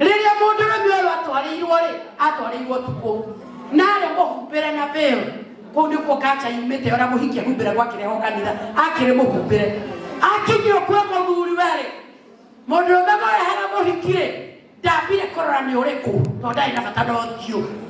rĩrĩa mũndũrũme ũyũ atwarĩirwo rĩ atwarĩirwo tukũ na arĩ mũhumbĩre na bĩo kũu nĩkuo kaca yumĩte ona mũhiki ahumbĩre gwakĩreho kanitha akĩrĩ mũhumbĩre akinyio kwĩ mũthuri werĩ mũndũrũme mũrehera mũhiki rĩ ndambire kũrora nĩ ũrĩkũ tondũ ndarĩ na bata na ũthiũ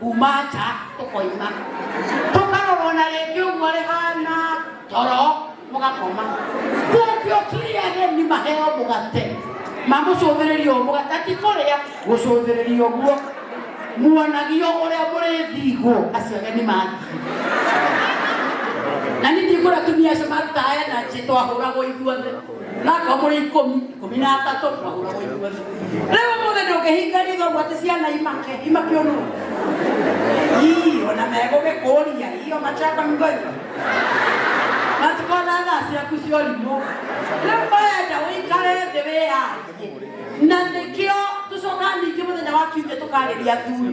kuma nja tũkoima tũkarorwo na rĩngĩ ũguo rĩhana toro mũgakoma kũngio kiri ageni maheo mũgate mamũcũthĩrĩria ũũ mũgate ti kũrĩa gũcũthĩrĩria ũguo muonagio ũrĩa mũrĩthigwo acio ageni mathiĩ na nĩ ndigũra tumia acio marutaga energy twahũragwo ithuothe Nako mũrĩ ikũmi ikũmi na atatũ magũra gũikua rĩu ũmũthĩ ndũngĩhinga ritho gwatĩ ciana imake imake ũnũ ii ona megũgĩkũria iyo machaka mgoiga matikona thaa ciaku cia ũrimũ rĩu wenda ũikare thĩ wĩyarie na nĩkĩo tũcokaga ningĩ mũthenya wa kiumia tũkarĩria athuri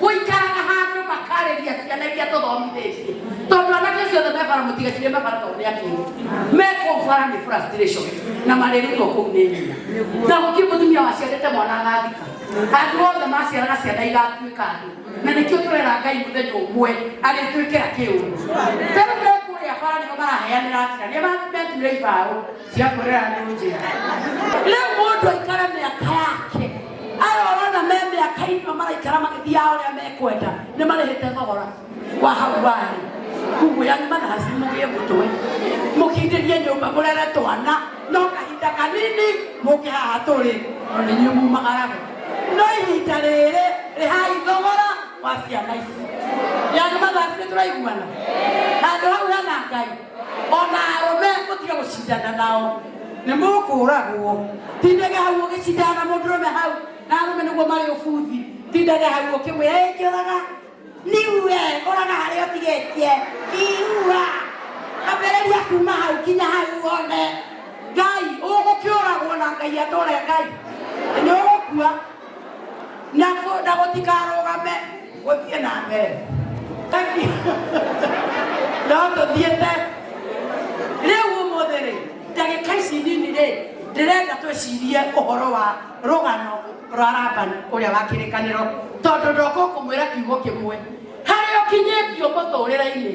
gũikaraga handũ makarĩria ciana iria tũthomithĩtie tondũ anake acio othe mebara mũtigacire mebara tondũ nĩakĩrĩ mekũu bara nĩ frustration na marĩrĩirwo kũu nĩ nyina na gũtirĩ mũtumia waciarĩte mwana agathika andũ othe maciaraga ciana igatuĩka andũ na nĩkĩo tũrera ngai mũthenya ũmwe agĩtuĩkĩra kĩũndũ tarĩu mekũrĩa bara nĩo maraheanĩra njĩra nĩo meturĩra ibaũ cia kurera ni njia riu mundu aikare miaka yake arorona me miaka ino maraikara magithiaga uria mekwenda ni marihite thogora wa hau warĩ kuguo yani manasi mugie mutwe mukindĩrie nyũmba mũrere twana no kahinda kanini mũke haha tũrĩ no nĩ inyuĩ mumagaraga no ihinda rĩrĩ rĩhai thogora wa ciana ici yani manasi nĩ tũraiguana handũ hau hena ngai ona arũme mũtige gũcindana nao nĩ mũkũragwo tindage hau ũgĩcindana na mũndũ ũrũme hau na arũme nĩguo marĩ ũbuthi tindage hau ũkĩmwĩra ĩngĩũraga niue ũraga harĩa ũtigĩtie iua ambĩrĩria kuma hau kinya hau wone ngai ũgũkĩũragwo na ngai atũre ngai nĩ ũgũkua na kũ- na gũtikarũgame gũthiĩ na mbere Thank you. no tũthiĩte rĩu ũmũthĩ rĩ ndagĩka ici nini rĩ ndĩrenda twĩcirie ũhoro wa rũgano rwa rabani ũrĩa wa kĩrĩkanĩro tondũ ndoka kũmwĩra kiugo kĩmwe harĩa ũkinyĩtio mũtũrĩre-inĩ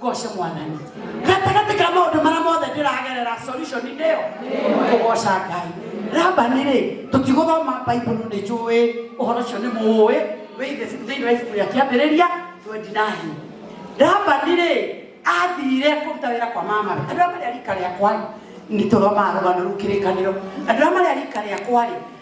goce mwathani gatagatĩ ka maũndũ marĩa mothe ndĩragerera solution nĩyo kũgoca ngai rabani rĩ tũtigũthoma baibulu nĩ njũĩ ũhoro ũcio nĩ mũũĩ wĩithe thĩinĩ wa ibuku rĩa kĩambĩrĩria 29 rabani rĩ athire kũruta wĩra kwa mama andå arä a marä a rika rä akwa nä tå thomaga rå gano rå kä rä kanä ro andå arä a marä a rika rä akwa rä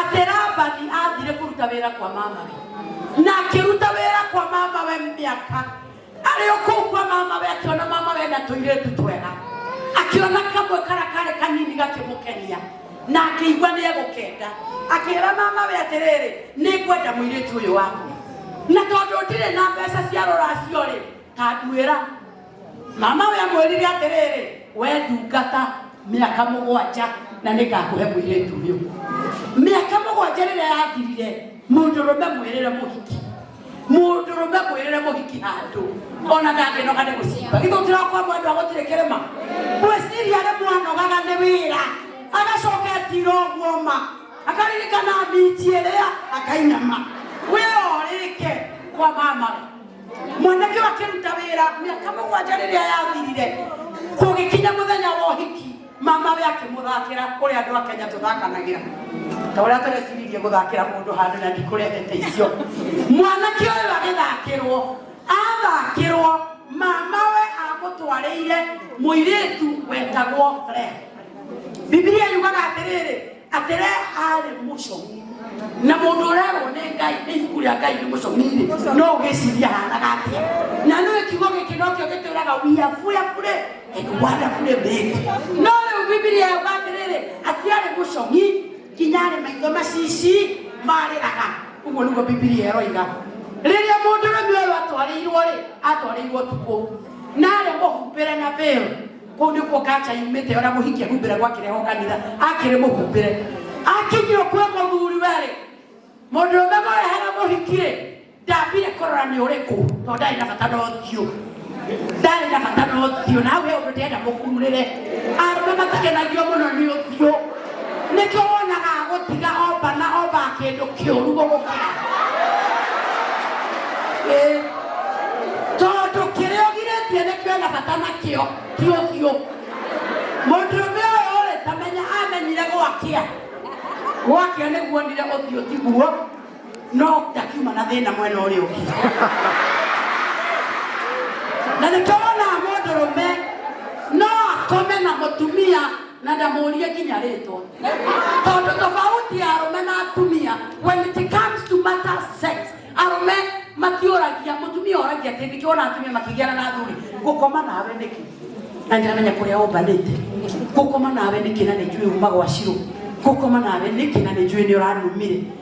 atĩ labani athire kũruta wĩra kwa mamawe na akĩruta wĩra kwa mamawe mĩaka arĩ o kũu kwa mamawe akĩona mamawe na tũirĩtu twega akĩona kamwe kara karĩ kanini gakĩmũkenia na akĩigua nĩ egũkenda akĩra mamawe atĩrĩrĩ nĩ ngwenda mũirĩtu ũyũ waku na tondũ ndirĩ na mbeca cia rũracio rĩ akwĩra mamawe amwĩrire atĩrĩrĩ we ndungata mĩaka mũgwanja na nĩ ngakũhe mwĩrĩtu ũyũ mĩaka mũgwanja rĩrĩa yathirire mũndũrũme mwĩrĩre mũhiki mũndũrũme mwĩrĩre mũhiki handũ ona ndangĩnoga nĩ gũcimba githũkĩra kwa mwendwa gũtirĩ kĩrĩma gwĩciria nĩ mwanogaga nĩ wĩra agacoka etira ũguo ma akaririkana miti ĩrĩa akainama wĩra ũrĩke kwa mamawe mwanake ũyũ akĩruta wĩra mĩaka mũgwanja rĩrĩa yathirire kũgĩkinya mũthenya wa ũhiki mamawe akĩmũthakĩra kũrĩ andũ a kenya tũthakanagĩra ta ũrĩa tũreciririe gũthakĩra mũndũ handũ na ndikũrehete icio mwanake ũyũ agĩthakĩrwo athakĩrwo mamawe amũtwarĩire mũirĩtu wetagwo Reha bibilia yugaga atĩrĩrĩ atĩre arĩ mũcong'i na mũndũ ũrerwo nĩ ngai nĩ ibuku rĩa ngai nĩ mũcong'i-rĩ no ũgĩciria hanaga atĩa na nĩ kiugo gĩkĩ nokĩo gĩtwĩraga we are fearfully and wonderfully made no rĩu bibilia yuga atĩrĩrĩ atĩ arĩ mũcong'i nginya arĩ maitho macici marĩraga ũguo nĩguo bibilia ĩroiga rĩrĩa mũndũ rũmi ũyũ atwarĩirwo-rĩ atwarĩirwo tukũ na arĩ mũhumbĩre na bĩũ kuu nikuo kanja yumite ona muhiki ahumbire gwakireho kanitha akiri muhumbire akinyio kwe muthuri weri mundu ume murehera muhikire ndambire kurora ni uriku to ndari na bata no thiu ndari na bata no thiu nawe undu ndenda mukurire arume matakenagio muno ni uthiu nĩkĩo wonaga agũtiga omba na omba kĩndũ kĩũru gũgũkĩra Ĩĩ. tondũ kĩrĩa ũgirĩtie nĩkĩo na bata nakĩo ti ũthiũ mũndũrũme ũyũ rĩ tamenya amenyire gwakĩa gwakĩa nĩguonire ũthiũ tiguo no ndakiuma na thĩna mwena ũrĩa ũngĩ na nĩkĩo wonaga mũndũrũme no akome na mũtumia na ndamũrie nginya rĩtwa tondũ tofauti ya arũme na atumia when it comes to matter sex arũme matiũragia mũtumia oragia atĩ nĩkĩo wona atumia makĩgiana na athuri gũkoma nawe nĩkĩ na ndiramenya kũrĩa ũmbanĩte gũkoma nawe nĩkĩ na nĩnjũĩ uma gwa cirũ gũkoma nawe nĩkĩ na nĩnjũĩ nĩ ũranumire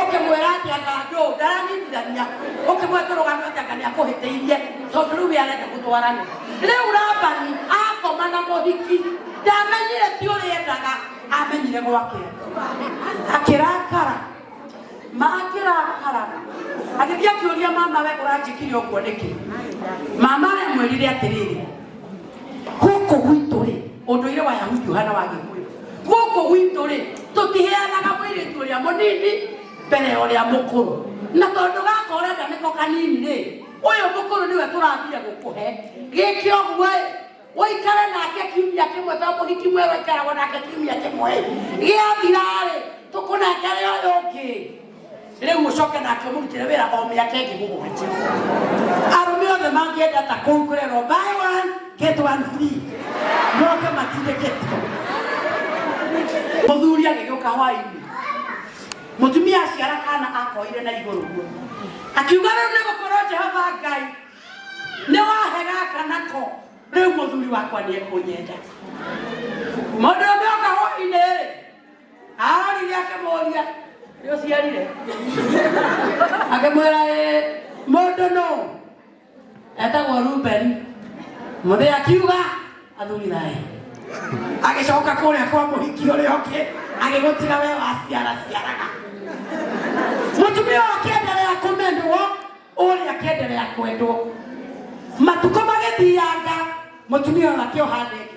ũkĩmwĩra atĩ anga ndũ ndaranyitithania ũkĩmwĩra tũrũgame atĩ anga nĩakũhĩtĩirie tondũ rĩu we arenda gũtwarana rĩu labani akoma na mũhiki ndamenyire ti ũrĩa endaga amenyire gwake akĩrakara makĩrakara agĩthiĩ akĩũria mama we ũranjĩkire ũguo nĩkĩ mama we mwĩrire atĩrĩrĩ Gũkũ gwitũ rĩ, ũndũire wa Yahudi ũhana wa Gĩkũyũ. Gũkũ gwitũ rĩ, tũtiheanaga mũirĩtu ũrĩa mũnini mbere ya ũrĩa mũkũrũ, na tondũ gaka ũrenda nĩko kanini rĩ, ũyũ mũkũrũ nĩwe tũrathiĩ gũkũhe. Gĩkĩ ũguo ĩ, ũikare nake kiumia kĩmwe tondũ mũhiki mwerũ aikaragwo nake kiumia kĩmwe ĩ, gĩathira rĩ, tũkũnengere ũyũ ũngĩ. rĩu mũcoke nake mũrutĩre wĩra o mĩaka ĩngĩ mũgwanja arũme othe mangĩenda ta kũu kũrerwo buy one get one free moke matindĩkĩtio mũthuri agĩgĩũka hwainĩ mũtumia aciara kana akoire na igũrũ guo akiuga rĩu nĩ gũkorwo jehova ngai nĩ wahe gaka nako rĩu mũthuri wakwa nĩ ekũnyenda mũndũ ũmwe oka hwainĩ rĩ arorire akĩmũria nĩ ũciarire akĩmwĩra "Ĩ, mũndũ nũ etagwo rubeni mũthĩ akiuga athuri thayũ agĩcoka kũrĩa kwa mũhiki ũrĩa ũngĩ agĩgũtiga we waciara ciaraga mũtumia ũyũ akĩendelea kũmendwo ũrĩa akĩendelea kwendwo matukũ magĩthianga mũtumia ũyũ akĩoha ndege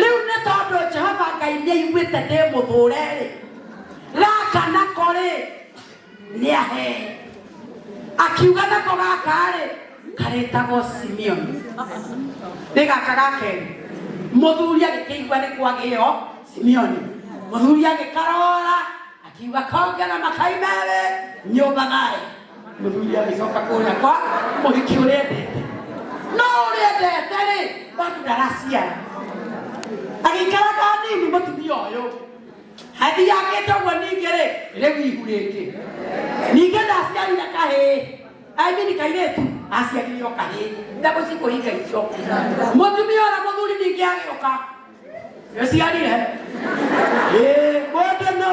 rĩu nĩ tondũ jehova ngai nĩ aiguĩte ndĩ mũthũre-rĩ gaka nako-rĩ nĩ ahe akiuga nako gaka-rĩ karetagwo simeoni nĩ gaka gakerĩ mũthuri agĩkĩigua nĩ kwagĩo simeoni mũthuri agĩkarora akiuga kongera makai merĩ nyũmba thayũ Mũthuri agĩcoka kũrĩa kwa mũhiki ũrĩa endete. No ũrĩa endete rĩ, bado ndaraciara. Agĩikara na nini mũtumia ũyũ. Hadi yakĩte ũguo ningĩ rĩ, rĩu ihu rĩngĩ. Ningĩ ndaciarire kahĩĩ. I mean kairĩtu aciarire o kahĩĩ. Ndagũ cikũhinga icio. Mũtumia ũrĩa mũthuri ningĩ agĩũka. Nĩũciarire? Ĩĩ, mũndũ nũ?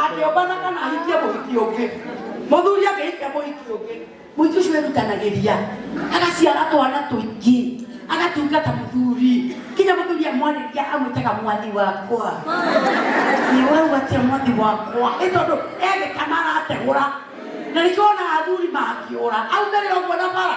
akĩũmbana kana ahikie mũhiki ũngĩ mũthuri akĩhikia mũhiki ũngĩ mũhiki ũcio erutanagĩria agaciara twana tũingĩ agatungata mũthuri kinya mũthuri amwarĩria amwĩtaga mwathi wakwa nĩ ũraigua atĩa mwathi wakwa ĩ tondũ egĩkana arategũra na nĩkĩo wonaga athuri makĩũra aumĩrĩra ũguo na bara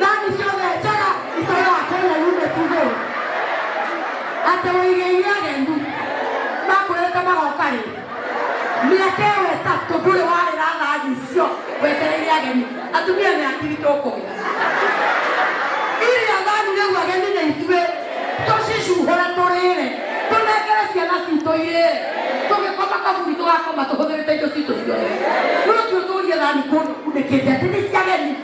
thani ciothe njega itũra kenya yume tuge atĩ ũigĩire ageni makwĩrĩte magoka rĩ mĩaka ĩyo ĩtatũ ndũrĩ warĩra thani icio wetereire ageni atumia nĩ akiri tũkũgĩa iria thani rĩu ageni nĩ ithuĩ tũcicuhũre tũrĩre tũnengere ciana citũ irĩre tũgĩkoma kaburi tũgakoma tũhũthĩrĩte indo citũ ciothe rũciũ tũrie thani kũndũ kunĩkĩte atĩ nĩ ciageni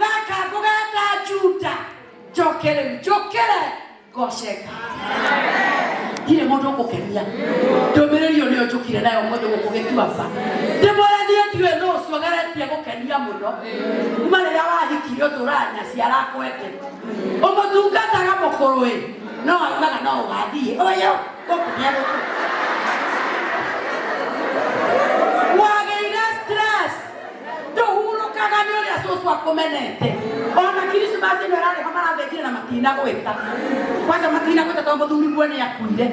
gaka ngũgeta juda njoke rĩu njũkĩre ngoce ngai ndirĩ mũndũ ngũkenia ndũmĩrĩri ĩyo nĩyo njũkire nayo mũndũ gũkũ gĩtuamba ndĩmwĩra niĩ ndiũĩ nũ ũcio geretie gũkenia mũno kuma rĩrĩa wahikire ũtũraga na ciara kwete ũmũtungataga mũkũrũĩ no augaga no ũgathiĩ ũyũ gũkũrĩa gũkũ wagĩire stress ndũhurũkaga nĩ ũrĩa cũcũ akũmenete ona kirismasi ĩno ĩrarĩ ho marathĩnjire na matinagwĩta kwanja matinagwĩta tondũ mũthuri guo nĩ akuire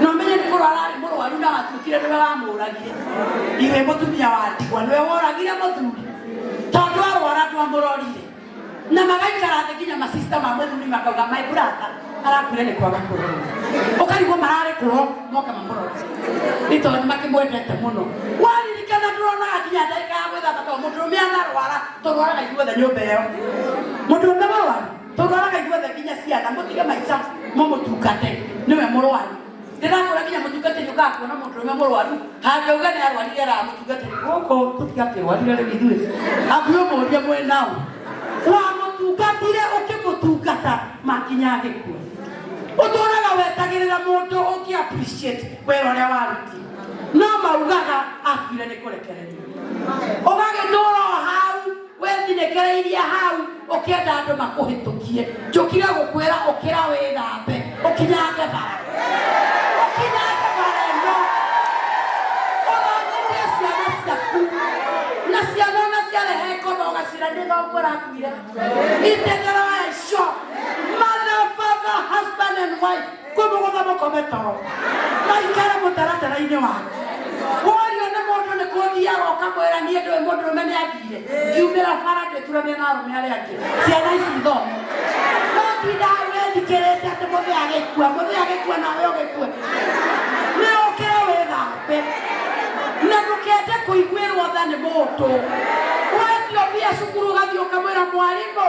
na ũmenye nĩ kũrwara arĩ mũrwaru na watuĩkire nĩwe wamũragire iwe mũtumia wa ndigwa nĩwe woragire mũthuri tondũ arwara ndwamũrorire na magaikara thĩ nginya masista ma mũthuri makauga my brother arakuire nĩ kwaga kũrorwo ũkarigwo mararĩ kũho moka mamũrore nĩ tondũ nĩ makĩmwendete mũno waririkana ndũronaga nginya ndagĩka ya gwĩthamba tondũ mũndũrũme anarwara tũrwaraga ithuothe nyũmba ĩyo mũndũrũme mũrwaru tũrwaraga ithuothe nginya ciana mũtige maica mũmũtungate nĩwe mũrwaru ndĩrakũra nginya mũtungatĩri ũkaga kuona mũndũrũme mũrwaru hangĩuga nĩ arwarire araga mũtungatĩri gũkũ tũtigakĩrwarire rĩu ithuĩ hakuhĩ ũmũrie mwĩ nao wamũtungatire ũkĩmũtungata makinya agĩkua ũtũraga wetagĩrĩra mũndũ ũngĩ appreciate wĩra ũrĩa waruti no maugaga akuire nĩ kũrekereria ũgagĩtũra o hau wethinĩkĩrĩirie hau ũkĩenda andũ makũhĩtũkie njũkire gũkwĩra ũkĩra wĩthambe ũkinyange bara ũkinyange bara ĩno ũronyithie ciana ciaku na ciana ona ciarehe ngoma ũgacira nĩ thongo rakuire itendero ya icio mother father husband and wife kũmũgũtha mũkome toro maikare mũtaratara-inĩ wake worio nĩ mũndũ nĩ kũthiaga ũkamwĩra niĩ ndũĩ mũndũ ũme nĩ athire ngiumĩra bara ngĩturanĩra na arũme arĩa angĩ ciana ici ithome no tindaga wĩthikĩrĩte atĩ mũthĩ agĩkua mũthĩ agĩkua nawe ũgĩkue nĩ ũkĩre wĩthambe na ndũkende kũiguĩrwo tha nĩ mũndũ wendio mbia cukuru ũgathiĩ ũkamwĩra mwarimũ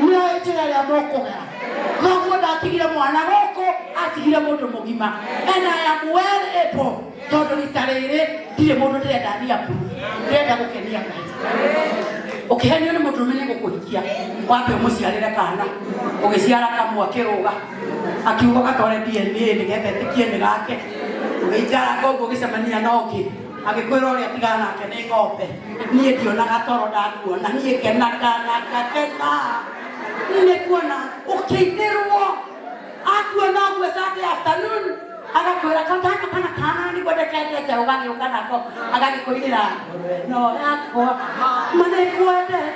nĩoĩ njĩra ĩrĩa mũkũgera noguo ndatigire mwana gũkũ atigire mũndũ mũgima and I am well able tondũ rita rĩrĩ ndirĩ mũndũ ndĩrenda thia kuru ndĩrenda gũkenia ngai ũkĩhenio nĩ mũndũ ũmenye gũkũhikia wambe ũmũciarĩre kana ũgĩciara kamwe akĩrũga akiuga gatware DNA nĩgetha ĩtĩkie nĩ gake ũgĩikara koguo ũgĩcemania na ũngĩ agĩkwĩra ũrĩa tiga nake nĩ ngombe niĩ ndionaga toro ndakuona niĩ kenaga na ngakena nĩ kuona ũkĩinĩrwo akuona ũguo Sunday afternoon agakwĩra katana kana kana nĩguo ndekendete ũgagĩũka nako agagĩkũinĩra ngũrwe no yakwa manĩkwendete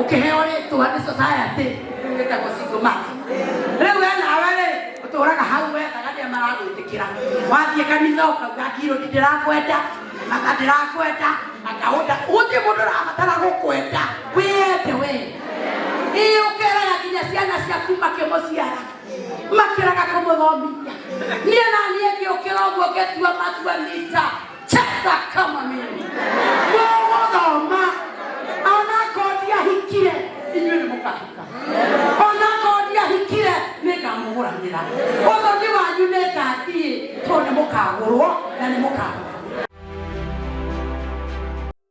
ũkĩheo rĩtwa nĩ society rĩu ĩtagwo single mother rĩu we nawe rĩ ũtũraga hau wethaga nĩ maragwĩtĩkĩra wathiĩ kanitha ũkauga ngirũ ndĩrakwenda aka ndĩrakwenda aka ũnda gũtirĩ mũndũ ũrabatara gũkwenda wĩyende we ĩĩ ũkeraga nginya ciana ciaku makĩmũciara makĩraga kũmũthomithia niĩ na niĩ ngĩũkĩra ũguo ngĩtua matua nita Cheza kama mimi. Mũgũthoma. Onakorwo ndiahikire, inyuĩ nĩ mũkahika. Onakorwo ndiahikire, nĩ ngamũgũranĩra. Ũthoni wanyu nĩ ngathiĩ, tondũ nĩ mũkagũrwo na nĩ mũkagũrwo.